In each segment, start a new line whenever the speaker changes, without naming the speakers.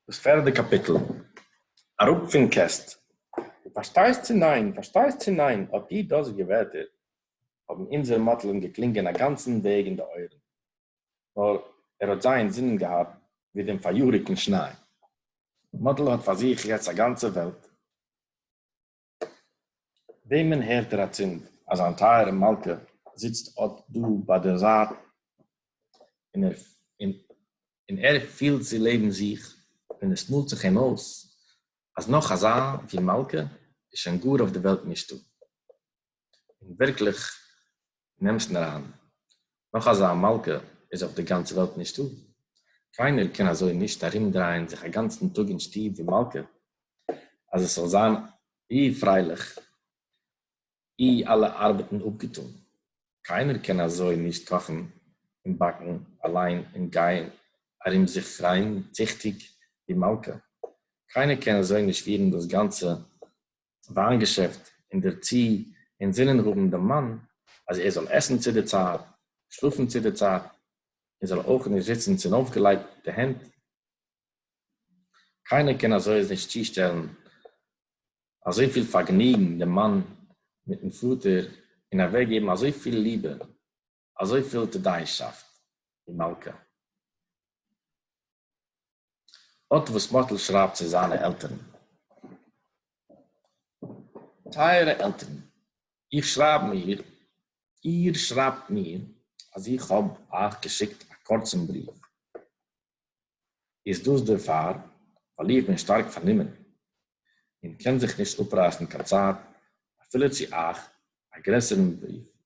דאס פערדע קאפיטל, אראפ פון קעסט! דו פארשטייסט צו ניין? פארשטייסט צו ניין? האט איר דאזיגע ווערטער האבן אונזער מאטל אים געקלינגען א גאנצן וועג אין די אויערן, נאר ער האט זיי אין זינען געהאט ווי דעם פאריאריקן שניי. מאטל האט פאר זיך יעצט א גאנצע וועלט. וועמען הערט ער אַצינד, אַז זײַן טײַערע מלכּה זיצט אָט דאָ בײַ דער זײַט און ער פֿילט זי לעבן זיך און עס מאָלט זיך אים אױס, אַז נאָך אַזאַ, װי מלכּה, איז שױן גאָר אױף דער װעלט נישטאָ? און ווירקליך נעמסט מיר אריין, נאך אזא מלכה איז אויף די גאנצע וועלט נישטא, קיינער קען אזוי נישט ארומדרייען זיך א גאנצן טאג אין שטוב ווי מלכה, אז עס זאל זיין אי פרייליך, אי אלע ארבעטן אפגעטאן, קיינער קען אזוי נישט קאכן און באקן אליין און גיין ארום זיך פרייען ציכטיג ווי מלכה, קיינער קען אזוי נישט פירן דאס גאנצע וויין געשעפט און דערצו אינזינען האבן דעם מאן אז ער זאל עסן צו די צייט, שלאפן צו די צייט, און זאל אויך נישט זיצן צונויפגעלייגטע הענט, קיינער קען אזוי נישט צושטעלן אזויפיל פארגניגן דעם מאן מיטן פאטער און אוועקגעבן אזויפיל ליבע. אזוי פיל טדיישאפט אין מלכה. אט וואס מאטל שרייבט צו זיינע עלטערן. טייערע עלטערן, איך שרייב מיר, איר שרייבט מיר, אז איך האב אייך געשיקט א קורצן בריוו, איז דאס דערפאר, ווייל איך בין שטארק פארנומען, און קען זיך נישט אפרייסן קיין צייט אפילו צו אייך א גרעסערן בריוו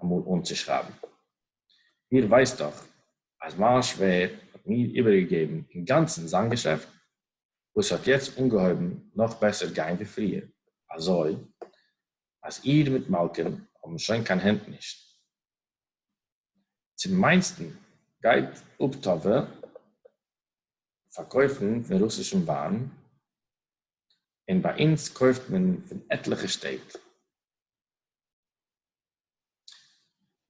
אמאל אנצושרייבן. איר ווייסט דאך אז מיין שווער האט מיר איבערגעגעבן אינגאנצן זיין געשעפט, וואס האט יעצט אנגעהויבן נאך בעסער גיין ווי פריער, אזוי אז איר מיט מלכּה'ן האבן שוין קיין הענט נישט. צום מיינסטן גייט אבטאווע פארקויפן פון רוסישן וויין, און ביי אונז קויפט מען פון עטליכע שטעט.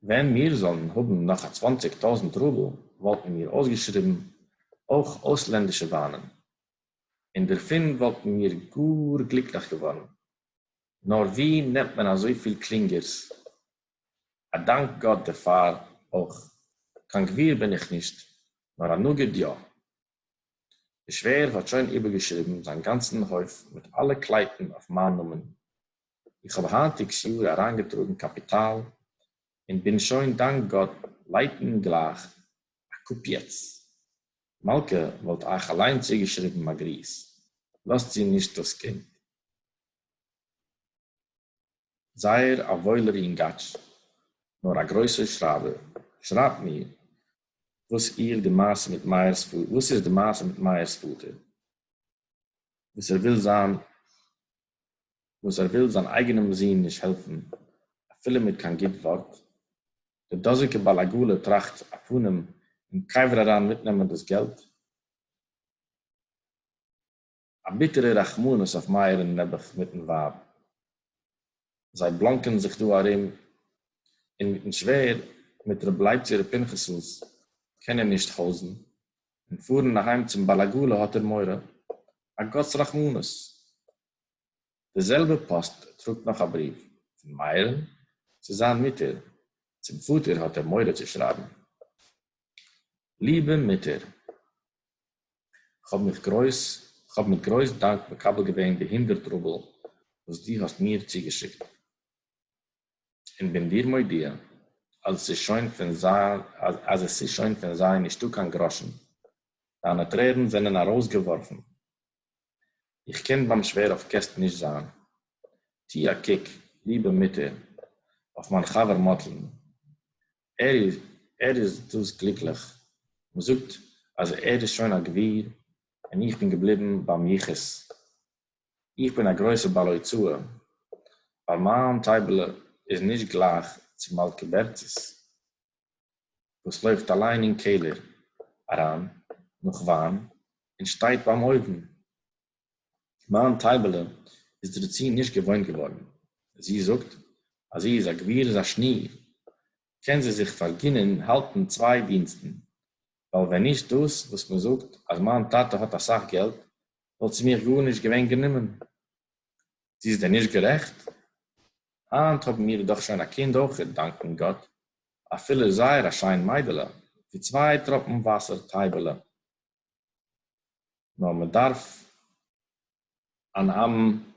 ווען מיר זאלן האבן נאך א צוואנציג טויזנט רובל וואלטן מיר אויסגעשריבן אויך אויסלענדישע וויינען, און דערפון וואלטן מיר גאר גליקליך געווארן, נאר ווי נעמט מען אזויפיל קלינגערס? א דאנק גאט דערפאר אויך, קיין גביר בין איך נישט, נאר א נגיד יא. דער שווער האט שוין איבערגעשריבן זיין גאנצן הויף מיט אלע קלייטן אויף מיין נאמען, איך האב היינטיגס יאר אריינגעטראגן קאפיטאל און בין שוין דאנק גאט לייטן גלייך א קאפ יעצט. מלכה וואלט אייך אליין צוגעשריבן א גריס, לאזט צו נישט דאס קינד. זייער א וואוילער יונגאטש, נאר א גרויסער שרייבער. שרייבט מיר וואס איר די מעשה מיט מאיר'ס פאטער, וואס איז די מעשה מיט מאיר'ס פאטער, וואס ער וויל זיין וואָס ער וויל זײַן אייגענעם זון נישט העלפֿן אַפֿילו מיט קיין גוט וואָרט. דער דאָזיקער בעל-עגלה טראַכט, אַ פּנים, אין קבֿר אַרײַן מיטנעמען דאָס געלט. אַ ביטערע רחמנות אויף מאיר און נעבעך מיטן ווײַב. זיי בלאָנקען זיך דאָ אַרום, און מיטן שווער, מיט רב לייבצי רב פּינחסלס, קען ער נישט חזרן, און פארן אהיים צום בעל עגלה האט ער מורא, א גאט'ס רחמנות. די זעלבע פאסט טראגט נאך א בריוו, פון מאיר'ן צו זיין מוטער, צום פאטער האט ער מורא צו שרייבן, ליבע מוטער, כ'האב מיך גרויס, כ'האב מיט גרויס דאנק מקבל געווען די הונדערט רובל וואס דו האסט מיר צוגעשיקט. און בין דיר מודיע אז עס איז שוין פון זיי אז עס איז שוין פון זיי נישטא קיין גראשן, דיינע טרערן זענען ארויסגעווארפן, איך קען ביים שווער אויף קעסט נישט זיין, טו א קוק, ליבע מוטער, אויף מיין חבר מאטל'ן, ער איז ער איז דאס גליקליך, מען זאגט אז ער איז שוין א גביר און איך בין געבליבן ביים יחוס. איך בין א גרויסע בעל הוצאה, ווייל מיין טייבעלע איז נישט גלייך צו מלכּה בערצי'ס, וואס לויפט אליין אין קעלער אריין נאך וויין און שטייט ביים אויוון. מיין טייבעלע איז דערצו נישט געוואוינט געווארן. זי זאגט, אז זי איז א גביר איז א שניר, קען זי זיך פארגינען האלטן צוויי דינסטן, ווייל ווען נישט דאס וואס מען זאגט אז מיין טאטע האט אסאך געלט, וואלט זי מיך גארנישט געווען גענומען. זי איז דען נישט גערעכט? היינט האבן מיר דאך שוין א קינד אויכעט, דאנקען גאט, אפילו זייער א שיין מיידעלע, ווי צוויי טראפן וואסער טייבעלע. נאר מען דארף אן אמת'ן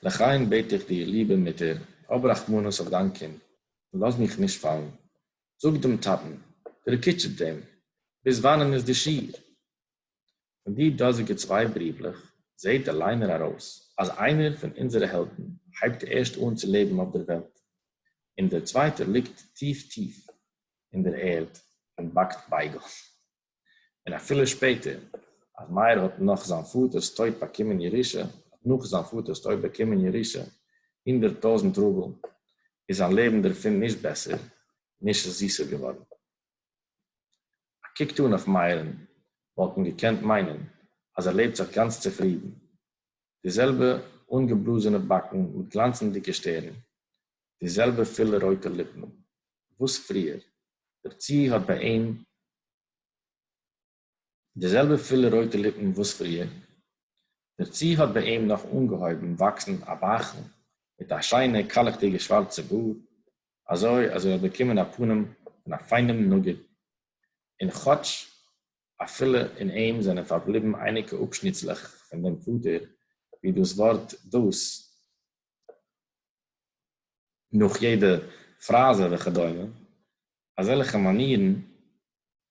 לחיים בעט איך דיר ליבער מוטער, האב רחמנות אויף דיין קינד און לאז מיך נישט פאלן. זאג דעם טאטן, דערקיטשעט דעם, ביז וואנען איז די שיעור? פון די דאזיגע צוויי בריוולעך זעט דער ליינער ארויס אז איינער פון אונזערע העלדן הייבט ערשט אן צו לעבן אויף דער וועלט, און דער צווייטער ליגט טיף טיף אין דער ערד און באקט בייגל. און אפילו שפעטער, אז מאיר האט נאך זיין פאטער'ס טויט באקומען ירושה, האט נאך זיין פאטער'ס טויט באקומען ירושה הונדערט טויזנט רובל, איז זיין לעבן דערפון נישט בעסער, נישט זיסער געווארן. א קוק טאן אויף מאיר'ן וואלט מען געקענט מיינען אז ער לעבט זיך גאנץ צופרידן, די זעלבע אנגעבלאזענע באקן מיט גלאנצנדיגע שטערן, די זעלבע פילע רויטע ליפן וואס פריער, דערצו האט ביי אים די זעלבע פילע רויטע ליפן וואס פריער, דערצו האט ביי אים נאך אנגעהויבן וואקסן א באכל מיט א שיינע קאלעכדיגע שווארצע בארד, אזוי אז ער האט באקומען א פנים פון א פיינעם נגיד, און כאטש אפילו אין אים זענען פארבליבן אייניקע אפשניצלעך פון דעם פאטער, ווי דאס ווארט דאס, נאך יעדע פראזע וכדומה, אזעלכע מאנירן,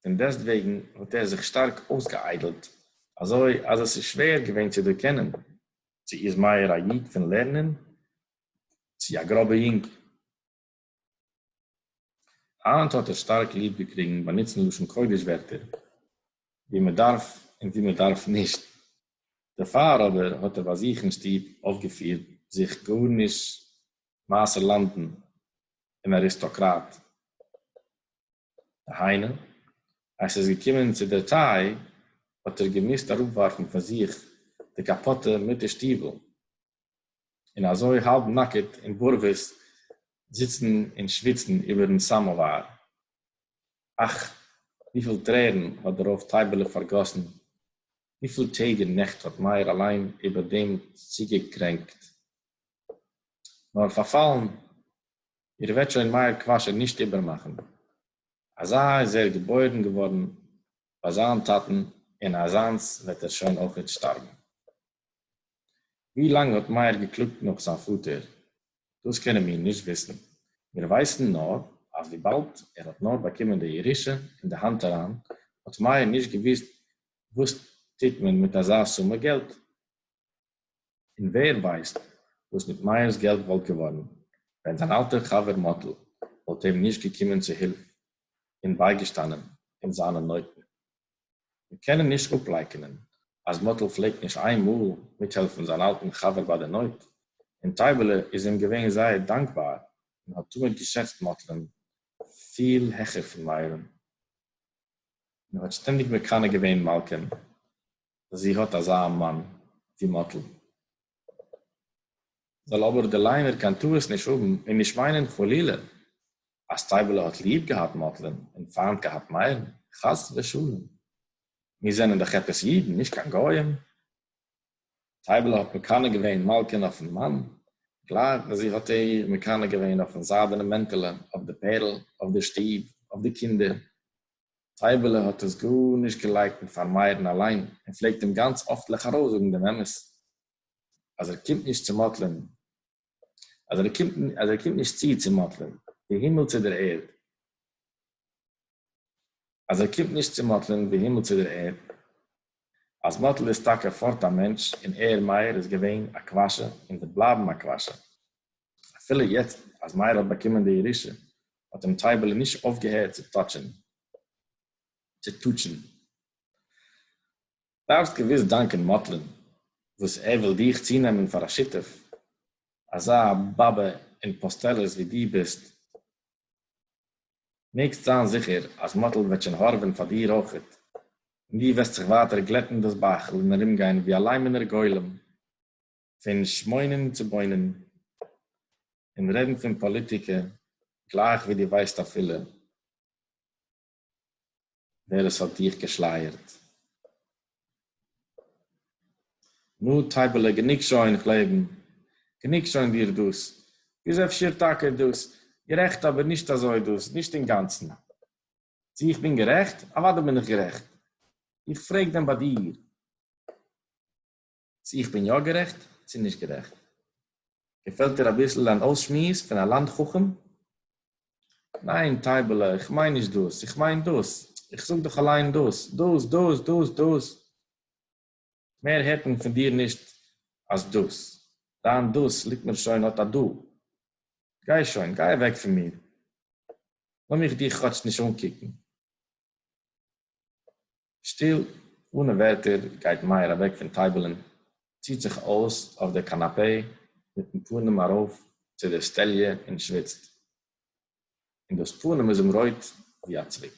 פון דעסטוועגן האט ער זיך שטארק אויסגעאיידלט, אזוי אז עס איז שווער געווען צו דערקענען צו איז מאיר א איד פון לערנען צו א גראבע יונג. היינט האט ער שטארק ליב געקריגן באנוצן לשון קודש ווערטער ווי מען דארף און ווי מען דארף נישט, דערפאר אבער האט ער ביי זיך אין שטוב אויפגעפירט זיך גארנישט מעשר לאנדן און אריסטאקראט, דהיינו אז ס'איז געקומען צו דער טיי האט ער געמוזט אראפווארפן פון זיך די קאפאטע מיט די שטיוול, און אזוי האלב נאקעט און בארוועס זיצן און שוויצן איבערן סאמאוואר. אך, וויפיל טרערן האט דער רב טייבעלע פארגאסן, וויפיל טעג און נעכט האט מאיר אליין איבער דעם צוגעקרענקט. נאר פארפאלן, איר וועט שוין מאיר קוואשער נישט איבערמאכן. אזא איז ער געבוירן געווארן ביי זיין טאטן און אזאנס וועט ער שוין אויכעט שטארבן. ווי לאנג האט מאיר געקלאגט נאך זיין פאטער? דאס קענען מיר נישט וויסן. מיר ווייסן נאר אז וויבאלד ער האט נאר באקומען די ירושה אין די האנט אריין, האט מאיר נישט געוואוסט וואס טוט מען מיט אזא סומע געלט. און ווער ווייסט וואס מיט מאיר'ס געלט וואלט געווארן, ווען זיין אלטער חבר מאטל וואלט אים נישט געקומען צו הילף און בייגעשטאנען אין זיינע נויטן. מיר קענען נישט אפלייקענען אז מאטל פלעגט נישט איין מאל מיטהעלפן זיין אלטן חבר ביי די נויט, און טייבעלע איז אים געווען זייער דאנקבאר און האט תמיד געשעצט מאטל'ן פיל העכער פון מאיר'ן, און האט שטענדיג מקנא געווען מלכה'ן אז זי האט אזא מאן ווי מאטל. זאל אבער די ליינער קיין טעות נישט האבן און נישט מיינען חלילה אז טייבעלע האט ליב געהאט מאטלען און פיינט געהאט מאיר'ן, חס ושלום! מיר זענען דאך עפעס אידן, נישט קיין גוים. טייבעלע האט מקנא געווען מלכה'ן אויפ'ן מאן, גלייך ווי זי האט איר מקנא געווען אויפ'ן זיידענעם מענטעלע, אויף די פערל, אויף די שטוב, אויף די קינדער. טייבעלע האט עס גארנישט געלייקנט פאר מאיר'ן אליין און פלעגט אים גאנץ אפטליך ארויסזאגן דעם אמת. אז ער קומט נישט צו מאטלען, אז ער קומט, אז ער קומט נישט צו צו מאטלען, די הימל צו דער ערד, אז ער קומט נישט צו מאטלען, די הימל צו דער ערד, אז מאטל איז טאקע פארט א מענטש, און ער, מאיר, איז געווען א קוואשע, און וועט בלייבן א קוואשע. אפילו יעצט, אז מאיר האט באקומען די ירושה, האט אים טייבעלע נישט אויפגעהערט צו טאטשען, צו טוטשען. דארפסט געוויס דאנקען מאטל'ן וואס ער וויל דיך צונעמען פאר א שותף, אזא באבע און פוסטעלעס ווי דו ביסט, מעגסט זיין זיכער אז מאטל וועט שוין הארעווען פאר דיר אויכעט, און דו וועסט זיך ווייטער גלעטן דאס בייכל און ארומגיין ווי א ליימענער גולם פון שמעונען צו בוינען און רעדן פון פאליטיקע גלייך ווי דו ווייסט אפילו ווער עס האט דיך געשלייערט. נו טייבעלע גענוג שוין איך לעבן, גענוג שוין דיר דאס איז אפשר טאקע דאס גערעכט אבער נישט אזוי דאס נישט אינגאנצן. צו איך בין גערעכט? אוודאי בין איך גערעכט. איך פרעג דען ביי דיר. צו איך בין יא גערעכט צו נישט גערעכט. געפעלט דיר אביסל אן אויסשמועס פון א לאנד חכם? ניין טייבעלע איך מיין נישט דאס, איך מיין דאס, איך זאג דאך אליין דאס, דאס, דאס, דאס, דאס, מער הערט מען פון דיר נישט אז דאס, דיין דאס ליגט מיר שוין אט א דא, גיי שוין, גיי אוועק פון מיר, לאמיך דיך כאטש נישט אנקוקן. שטיל, אָנע ווערטער, גייט מאיר אַוועק פֿון טײַבעלען, ציט זיך אויס אויף דער קאַנאַפּעי מיטן פּנים אַרויף צו דער סטעליע און שוויצט, און דאָס פּנים איז אים רויט ווי אַ צוויק.